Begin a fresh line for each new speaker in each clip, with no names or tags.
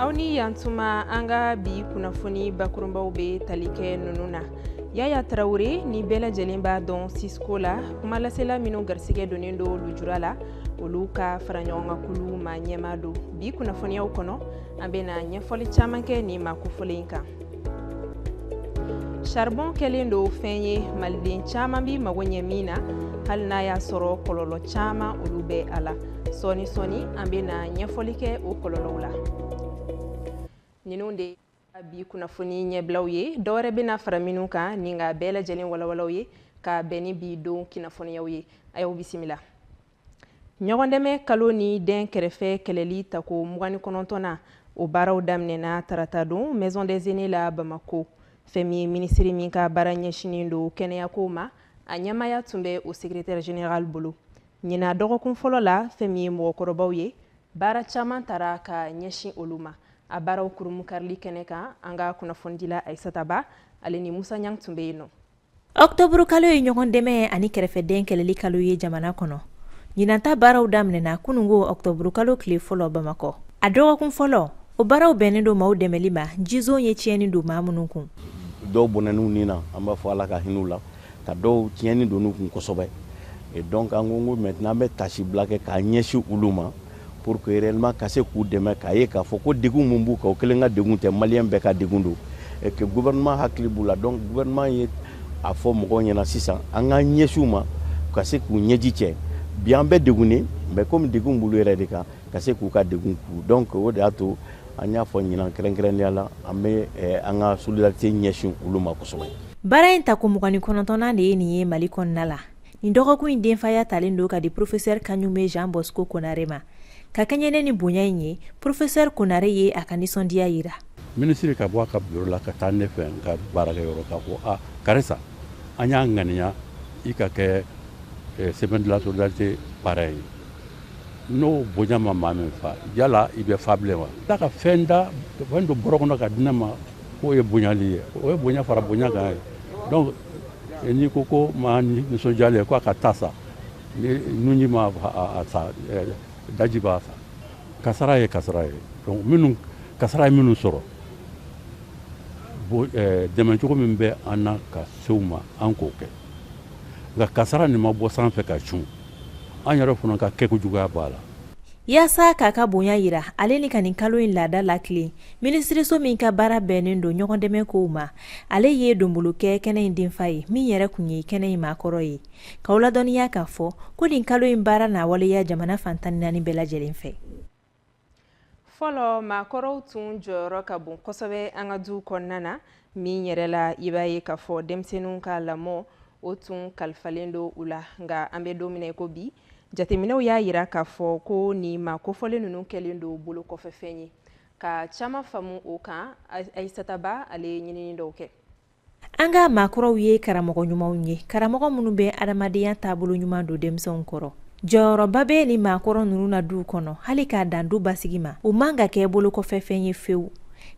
aw ni yantuma an ka bi kunnafoni bakurunbaw bɛ tali kɛ ninnu na yaya tarawele ni bɛɛ lajɛlen b'a dɔn sisko la kumalasela minnu garisigɛ donnen don lujura la olu ka faraɲɔgɔnkan kulu maa ɲɛmaa don bi kunnafoniyaw kɔnɔ an bɛna ɲɛfɔli caman kɛ nin maa kofɔlen kan charbon kɛlen don fɛn ye maliden caman bi mago ɲɛ min na hali n'a y'a sɔrɔ kɔlɔlɔ caman olu bɛ a la sɔɔni sɔɔni an bɛ na ɲɛfɔli kɛ o kɔlɔlɔw la ninnu de bi kunnafoni ɲɛbilaw ye dɔwɛrɛ bɛna fara minnu kan ni n k'a bɛɛ lajɛlen walawala aw ye ka bɛn ni bi don kunnafoniyaw ye a y'aw bisimila ɲɔgɔndɛmɛ kalo ni dɛnkɛrɛfɛ kɛlɛli tako mugan ni kɔnɔntɔnnan o baaraw daminɛna tarata don maison des aînés la bamako fɛn min ye minisiri min ka baara ɲɛsinin don kɛnɛyako ma a ɲɛmaaya tun bɛ o secrétaire général bolo ɲinan dɔgɔkun fɔlɔ la fɛn min ye mɔgɔkɔrɔbaw ye baara caman tara ka ɲɛsin olu ma a baaraw kurunbonkarili kɛnɛ kan an ka kunnafonidila ayisata ba ale ni musa ɲang tun bɛ yen nɔ
Octobre kalo ye ɲɔgɔn dɛmɛ ani kɛrɛfɛdɛn kɛlɛli kalo ye jamana kɔnɔ. Ɲinanta baaraw daminɛna kunungo octobre kalo tile fɔlɔ Bamakɔ. A dɔgɔkun fɔlɔ, o baaraw bɛnnen don maaw dɛmɛli ma jison ye tiɲɛni don maa minnu kun. Dɔw
bɔnɛn'u ni na, an b'a fɔ Ala ka hin'u la, ka dɔw tiɲɛni donn'u kun kosɛbɛ. Et donc an ko ko maintenant an bɛ taasibila kɛ k'a ɲɛsin olu ma. pour que réellement ka se k'u dɛmɛ k'a ye k'a fɔ ko degun min b'u kan u kelen ka degun tɛ maliyɛn bɛɛ ka degun don et que gouvernement hakili b'u la donc gouvernement ye a fɔ mɔgɔw ɲɛna sisan an k'an ɲɛsin u ma ka se k'u ɲɛji cɛ bi an bɛɛ degunnen mais komi degun b'olu yɛrɛ de kan ka se k'u ka degun kun donc o de y'a to an y'a fɔ ɲinan kɛrɛnkɛrɛnnenya la an bɛ eh, an ka solidarité ɲɛsin olu ma kosɛbɛ baara in tako
mugan ni kɔnɔntɔnnan de ye nin ye mali kɔnɔna la nin dɔgɔkun in denfaya talen don ka di porofesɛri kaɲume jean bosco konare ma ka kɛɲɛ ni nin bonya in ye porofesɛri konare ye a ka nisɔndiya yira minisiri ka bɔ a
ka biro la ka taa ne fɛ n ka baarakɛyɔrɔ k'a fɔ a karisa an y'a ŋaniya i ka kɛ eh, semaine de la solidarité parrain ye n'o bonya ma maa min fa yala i bɛ fa bilen wa tila ka fɛn da fɛn don bɔrɔ kɔnɔ ka di ne ma K'o ye bonyali ye o ye bonya fara bonya kan ye donc n'i ko ko maa nisɔndiyalen k'a ka ta sa nunji ma a sa daji b'a sa kasara ye kasara ye donc minnu kasara ye minnu sɔrɔ dɛmɛ cogo min bɛ an na ka se u ma an k'o kɛ nka kasara nin ma bɔ sanfɛ ka cun an yɛrɛ fana ka kɛkojuguya b'a la yaasa k'a
ka bonya yira ale ni ka nin kalo in laada latilen minisiriso min ka baara bɛnnen don ɲɔgɔndɛmɛ kow ma ale ye donbolo kɛ kɛnɛ in denfa ye min yɛrɛ kun ye kɛnɛ in maakɔrɔ ye k'aw ladɔnniya k'a fɔ ko nin kalo in baara na waleya jamana fan tan ni naani bɛɛ lajɛlen fɛ fɔlɔ
maakɔrɔw tun jɔyɔrɔ ka bon kosɛbɛ an ka duw kɔnɔna na min yɛrɛ la i b'a ye k'a fɔ denmisɛnninw ka lamɔ o tun kalifalen don u la nka an bɛ don min i ko bi jateminɛw y'a jira k'a fɔ ko nin maa kofɔlen ninnu kɛlen don bolo kɔfɛfɛn ye ka caman faamu o kan Ayisata Ba ale ye ɲinini dɔw kɛ an
ka maakɔrɔw ye karamɔgɔ ɲumanw ye karamɔgɔ minnu bɛ adamadenya taabolo ɲuman don denmisɛnw kɔrɔ jɔyɔrɔba bɛ ni maakɔrɔ ninnu na duw kɔnɔ hali k'a dan du basigi ma u man ka kɛ bolo kɔfɛfɛn ye fewu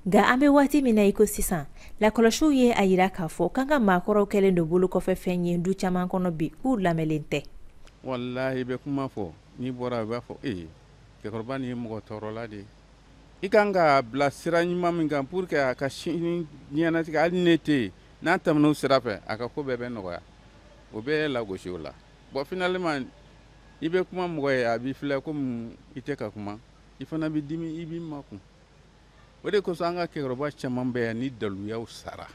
Nka an bɛ waati min na i ko sisan lakɔlɔsiw ye a jira k'a fɔ k'an ka maakɔrɔw kɛlen don bolo kɔfɛ fɛn ye du caman kɔnɔ bi k'u lamɛnlen tɛ walayi i bɛ
kuma fɔ n'i bɔra a b'a fɔ e cɛkɔrɔba nin ye mɔgɔ tɔɔrɔla de ye i ka kan k'a bila sira ɲuman min kan pour que a ka sini diɲɛnatigɛ hali ne tɛ yen n'a tɛmɛn'o sira fɛ a ka ko bɛɛ bɛ nɔgɔya o bɛ lagosi o la bon finalement i bɛ kuma mɔgɔ ye a b'i filɛ komi i tɛ ka kuma i fana bɛ dimi i b'i makun o de kosɔn an ka cɛkɔrɔba caman bɛ yan ni daluyaw
sara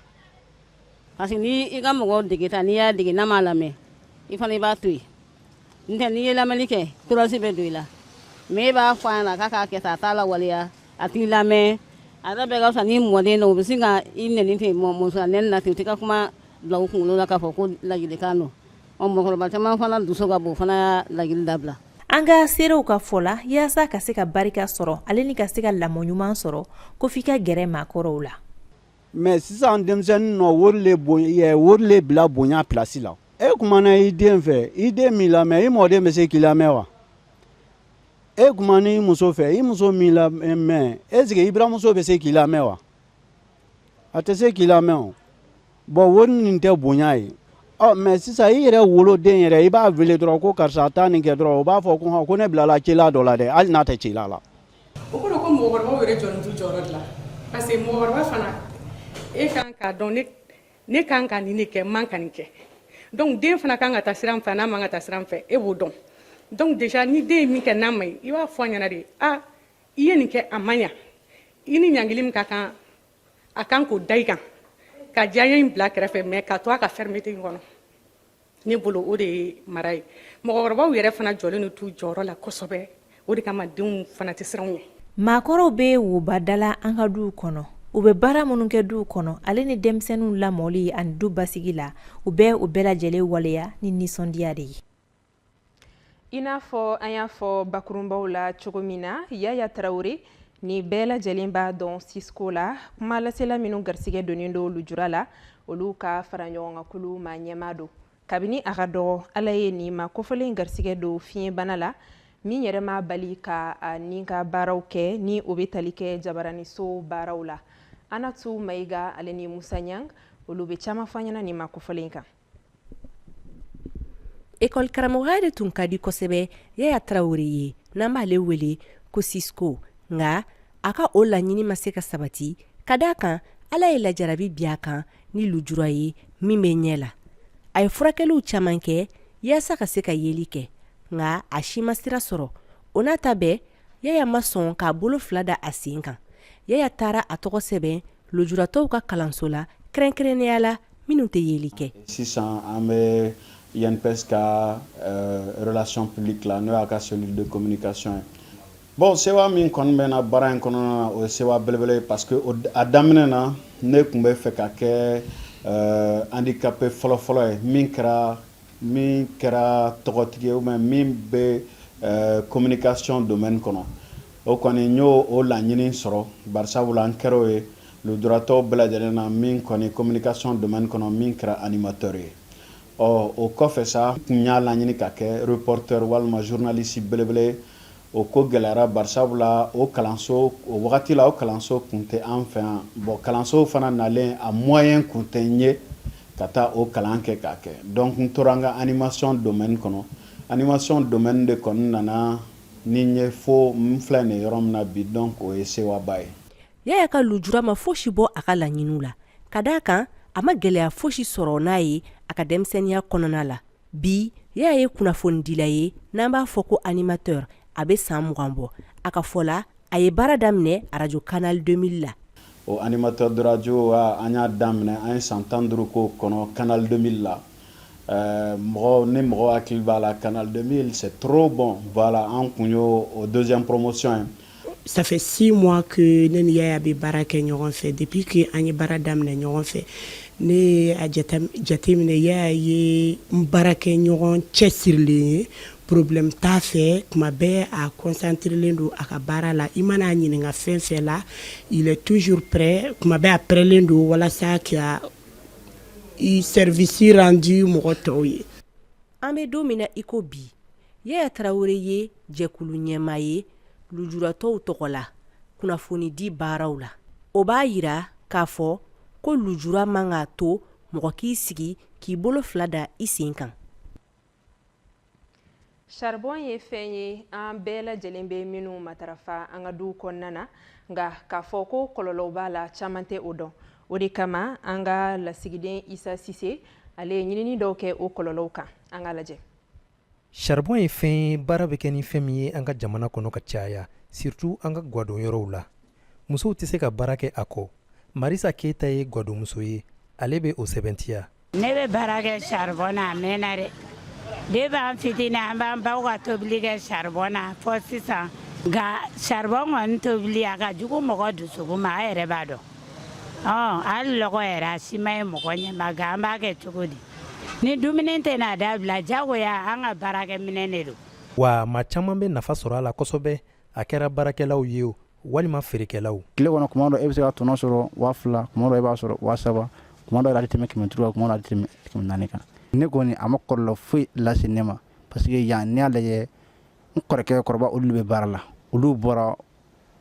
parce que n'i ka mɔgɔ degeta n'i y'a dege n'a m'a lamɛn i fana i b'a to yen n tɛ n'i ye lamɛnni kɛ torasi bɛ don i la mɛ e b'a fɔ a ɲɛna k'a k'a kɛ tan a t'a lawaleya a t'i lamɛn a ta bɛɛ ka fisa ni mɔden na u bɛ sin ka i nɛni ten mɔ muso nɛni na ten u tɛ ka kuma bila u kunkolo la k'a fɔ ko ladilikan don Ɔ mɔgɔkɔrɔba caman fana dusu ka bon o fana y'a ladili dabila an ka
seerew ka fɔ la yaasa ka se ka barika sɔrɔ ale ni ka se ka lamɔ ɲuman sɔrɔ ko f'i ka gɛrɛ maakɔrɔw la mɛ sisan
denmisɛnninw ye wari le bila bonya plasi la e kumana i den fɛ i den m'i lamɛn i mɔden bɛ se k'i lamɛn wa e kumana i muso fɛ i muso m'i lamɛn est-ce que i buranmuso bɛ se k'i lamɛn wa a tɛ se k'i lamɛn Bon wari nin tɛ bonya ye mɛ sisan i yɛrɛ woloden yɛrɛ i b'a weele dɔrɔn ko karisa taa nin kɛ dɔrɔn o b'a fɔ ko ko ne bilala cila dɔ la
dɛ
hali n'a tɛ cila
la mɔgɔkɔrɔbaw yɛrɛ jɔlen t'u jɔyɔrɔ de la parce que mɔgɔkɔrɔba fana e kan k'a dɔn ne kan ka nin de kɛ man ka nin kɛ dɔnku den fana kan ka taa sira min fɛ n'a man ka taa sira min fɛ e b'o dɔn dɔnku ni den ye min kɛ n'a man ɲi i b'a fɔ a ɲɛna de i ye nin kɛ a ma ɲɛ i ni ɲangili min ka kan a kan k'o da i kan ka diyaɲɛ in bila kɛrɛfɛ mɛ ka to a ka fɛrimete in kɔnɔ ne bolo o de ye mara ye mɔgɔkɔrɔbaw yɛrɛ fana jɔlen t'u jɔyɔrɔ la kosɛbɛ o de kama denw fana tɛ siran u ɲɛ maakɔrɔw
bɛ woba dala an ka duw kɔnɔ u bɛ baara minnu kɛ duw kɔnɔ ale ni denmisɛnninw lamɔli ani du basigi la u bɛ o bɛɛ lajɛlen waleya ni nisɔndiya de ye
i n'a fɔ an y'a fɔ bakurunbaw la cogo min na yaya tarawele ni bɛɛ lajɛlen b'a dɔn sisko la kuma lasela minnu garisigɛ donnen don lujura la olu ka fara ɲɔgɔn kan kulu ma ɲɛmaa don kabini a ka dɔgɔ ala ye nin maa kofɔlen garisigɛ don fiɲɛbana la min yɛrɛ m'a bali ka a ni ka baaraw kɛ ni o bɛ tali kɛ jabaraniso baaraw la anatu mayiga ale ni musa ɲang olu bɛ caman fɔ ɲɛna nin maa kofɔlen kan
École karamɔgɔya de tun ka di kosɛbɛ yaya tarawele ye n'an b'aale wele ko sisko nka a ka o laɲini ma se ka sabati ka d' a kan ala ye lajarabi bin a kan ni lujura ye min bɛ ɲɛ la a ye furakɛliw caman kɛ yaasa ka se ka yeli kɛ nka a si ma sira sɔrɔ o n'a ta bɛɛ yaya ma sɔn k'a bolo fila da a sen kan yaya taara a tɔgɔ sɛbɛn Lujuratɔw ka kalanso la kɛrɛnkɛrɛnnenya la minnu tɛ yeli kɛ sisan an
bɛ INPS ka relation publique la n'o y'a ka cellule de communication ye bon sewa min kɔni bɛ n na baara in kɔnɔna o ye sewa belebele ye parce que a daminɛ na ne tun bɛ fɛ ka kɛ handicapé fɔlɔfɔlɔ ye min kɛra min kɛra tɔgɔtigi ye ou bien min bɛ communication domaine kɔnɔ O kɔni n y'o o laɲini sɔrɔ barisabu la n kɛr'o ye lujuratɔw bɛɛ lajɛlen na min kɔni communication domaine kɔnɔ min kɛra animateur ye ɔ o kɔfɛ sa n tun y'a laɲini ka kɛ reporteur walima journaliste belebele ye o ko gɛlɛyara barisabu la o kalanso o wagati la o kalanso kun tɛ an fɛ yan bon kalansow fana nalen a moyen kun tɛ n ye ka taa o kalan kɛ k'a kɛ donc n tora n ka animation domaine kɔnɔ animation domaine de kɔni nana Ni n ye fo n filɛ nin yɔrɔ min na bi donc o ye sewaba ye yaya ka lujura
ma fosi bɔ a ka laɲini la ka d' a kan a ma gɛlɛya fosi sɔrɔ n'a ye a ka denmisɛnninya kɔnɔna la bi yaya ye kunnafonidila ye n'an b'a fɔ ko animateur a bɛ san mugan bɔ a ka fɔ la a ye baara daminɛ arajo canal deux mille la o animateur
de radio an y'a daminɛ an ye san tan duuru k'o kɔnɔ canal deux mille la mɔgɔ ni mɔgɔ hakili b'a la canal deux mille c'est trop bon voilà an tun y'o o deuxième promotion ye ça
fait six mois que ne ni yaya bɛ baara kɛ ɲɔgɔn fɛ depuis que an ye baara daminɛ ɲɔgɔn fɛ ne jateminɛ yaya ye n baarakɛɲɔgɔn cɛsirilen ye Problème t'a fɛ tuma bɛɛ a concentrélen don a ka baara la i mana a ɲininkaka fɛn fɛn la il est toujours prêt kuma bɛɛ a prêtlen don walasa ka i service rendu mɔgɔ tɔw ye an bɛ don
min na i ko bi yaya tarawele ye jɛkulu ɲɛmaa ye lujuratɔw tɔgɔ la kunnafoni di baaraw la o b'a jira k'a fɔ ko lujura man k'a to mɔgɔ k'i sigi k'i bolo fila da i sen kan
saribɔn ye fɛn ye an bɛɛ lajɛlen bɛ minnu matarafa an ka duw kɔnɔna na nka k'a fɔ ko kɔlɔlɔw b'a la caman tɛ o dɔn o de kama an ka lasigiden isa sise ale ye ɲinini dɔw kɛ o kɔlɔlɔw kan an ka lajɛ
saribɔn ye fɛn ye baara bɛ kɛ ni fɛn min ye an ka jamana kɔnɔ ka caya surtout an ka gwadon yɔrɔw la musow tɛ se ka baara kɛ a kɔ marisa keyita ye gwadonmuso ye ale bɛ o sɛbɛntiya ne bɛ
baara kɛ saribɔn na a mɛnna dɛ depuis an fitini an b'an baw ka tobili kɛ saribɔn na fɔ sisan nka saribɔn kɔni tobili a ka jugu mɔgɔ dusukun ma a yɛrɛ b'a dɔn hali lɔgɔ yɛrɛ a si man ɲi mɔgɔ ɲɛ ma nka an b'a kɛ cogo di ni dumuni tɛna dabila jagoya an ka baarakɛminɛn de don wa maa caman
bɛ nafa sɔrɔ a la kosɛbɛ a kɛra baarakɛlaw ye o walima feerekɛlaw tile kɔnɔ kuma dɔ e bɛ
se ka tɔnɔ sɔrɔ waa fila kuma dɔ e b'a sɔrɔ waa saba kuma dɔ yɛrɛ a tɛ tɛmɛ kɛmɛ duuru kuma dɔ a tɛ tɛmɛ kɛmɛ naani kan ne kɔni a ma kɔlɔlɔ foyi lase ne ma parce que yan ne y'a lajɛ n kɔrɔkɛ kɔrɔba olu bɛ baara la olu bɔra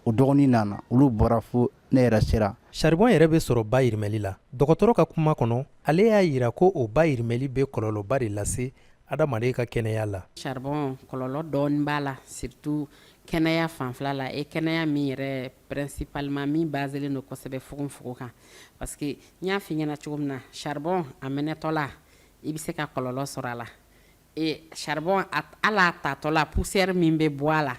o dɔgɔnin nana olu bɔra fo ne yɛrɛ sera saribɔn yɛrɛ bɛ
sɔrɔ bayɛlɛmali la dɔgɔtɔrɔ ka kuma kɔnɔ ale y'a yira ko o bayɛlɛmali bɛ kɔlɔlɔba de lase adamaden ka kɛnɛya la saribɔn kɔlɔlɔ
dɔɔni b'a la surtout kɛnɛya fanfɛla la e kɛnɛya min yɛrɛ principalement min baselen don kosɛbɛ fogonfogon kan parce que n y'a f'i ɲɛna cogo min na saribɔn a mɛnɛtɔla i bɛ se ka kɔlɔlɔ sɔrɔ a la Ee charbon a t hal'a tatɔla poussière min bɛ bɔ a la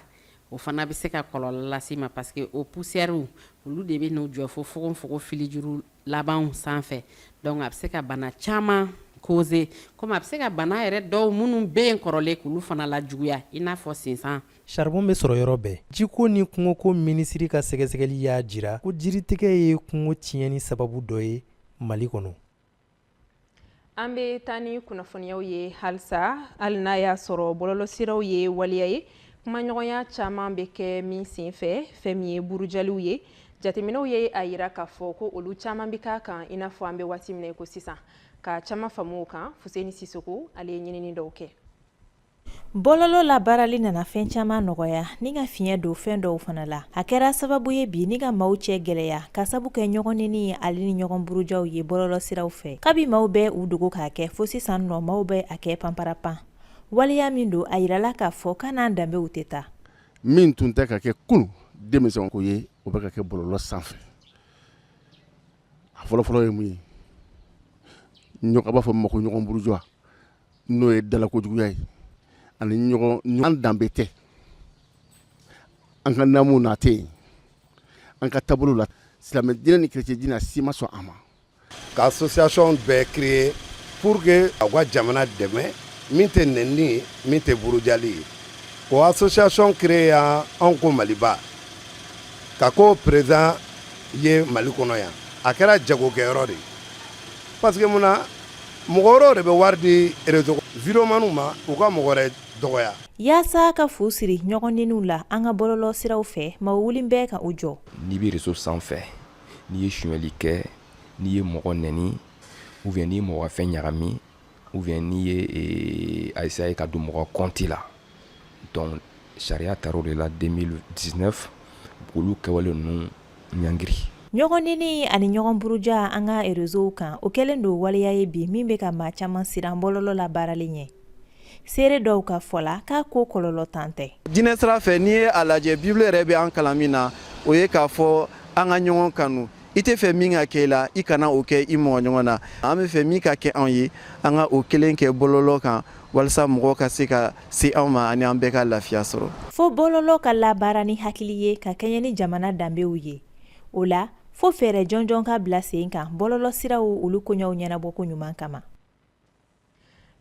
o fana bɛ se ka kɔlɔlɔ las'i ma parce que o poussièrew olu de bɛ n'u jɔ fo fogonfogon filijuru labanw sanfɛ donc a bɛ se ka bana caman causer comme a bɛ se ka bana yɛrɛ dɔw minnu bɛ yen kɔrɔlen k'olu fana lajuguya i n'a fɔ sinsan. Charbon bɛ sɔrɔ
yɔrɔ bɛɛ. Jiko ni kungoko minisiri ka sɛgɛsɛgɛli y'a jira ko jiritigɛ ye kungo tiɲɛni sababu dɔ ye Mali kɔnɔ.
an bɛ taa ni kunnafoniyaw ye halisa hali n'a y'a sɔrɔ bɔlɔlɔsiraw ye waleya ye kumaɲɔgɔnya caman bɛ kɛ min senfɛ fɛn min ye burujaliw ye jateminɛw ye a yira k'a fɔ ko olu caman bɛ k'a kan i n'a fɔ an bɛ waati min na ko sisan ka caman faamu o kan fuseni sisoko ale ye ɲinini dɔw kɛ
Bɔlɔlɔ labaarali nana fɛn caman nɔgɔya ni ka fiɲɛ don fɛn dɔw fana la a kɛra sababu ye bi ni ka maaw cɛ gɛlɛya ka sabu kɛ ɲɔgɔnneni ye ale ni ɲɔgɔn burujaw ye bɔlɔlɔsiraw fɛ kabi maaw bɛ u dogo k'a kɛ fo sisan nɔ maaw bɛ a kɛ panparapan waleya min don a yirala k'a fɔ k'a n'an danbew tɛ taa min tun
tɛ ka kɛ kunu denmisɛn ko ye o bɛ ka kɛ bɔlɔlɔ sanfɛ a fɔlɔfɔlɔ ye mun ye an b'a fɔ a ma ko ɲɔgɔn buruja n'o ye dalakojuguya ye ani ɲɔgɔn danbe tɛ an ka namu na tɛ yen an ka taabolo la silamɛ diinɛ ni kerecɛn diinɛ si ma sɔn a ma ka
association bɛɛ créer pour que a ka jamana dɛmɛ min tɛ nɛnni ye min tɛ burujali ye o association créer yan anw ko maliba ka ko présent ye mali kɔnɔ yan a kɛra jagokɛyɔrɔ de ye Parce que mun na mɔgɔ wɛrɛ de bɛ wari di vidéoman ma u ka mɔgɔ wɛrɛ dɔgɔya yaasa ka fu
siri ɲɔgɔnnɛniw la an ka bɔlɔlɔ siraw fɛ maa wulilen bɛ ka u jɔ n'i bɛ réseau
sanfɛ n'i ye suɲɛli kɛ n'i ye mɔgɔ nɛni ou bien n'i ye mɔgɔ fɛn ɲagami ou bien n'i ye a essayer ka don mɔgɔ kɔnti la donc sariya tara o de la 2019 k'olu kɛwale ninnu ɲangiri ɲɔgɔnnɛni
ani ɲɔgɔnburuja an ka réseaux kan o kɛlen don waleya ye bi min bɛ ka maa caman siran bɔlɔlɔ labaarali ɲɛ seere dɔw ka fɔ la k'a ko kɔlɔlɔ tan tɛ diinɛ sira fɛ n'i ye
a lajɛ bibulu yɛrɛ bɛ an kalan min na o ye k'a fɔ an ka ɲɔgɔn kanu i tɛ fɛ min ka kɛ i la i kana o kɛ i mɔgɔ ɲɔgɔn na an bɛ fɛ min ka kɛ anw ye an ka o kelen kɛ bɔlɔlɔ kan walasa mɔgɔ ka se ka se anw ma ani an bɛɛ ka lafiya sɔrɔ fo bɔlɔlɔ ka
labaara ni hakili ye ka kɛɲɛ ni jamana danbew ye o la fo fɛɛrɛ jɔnjɔn ka bila sen kan bɔlɔlɔ siraw olu koɲɛw ɲɛnabɔko ɲuman kama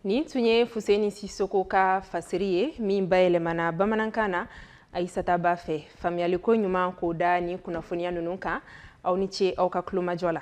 nin tun ye fuseni sisoko ka fasiri ye min bayɛlɛmana bamanankan na ayisata ba fɛ faamuyaliko ɲuman k'o da nin kunnafoniya ninnu kan aw ni ce aw ka tulomajɔ la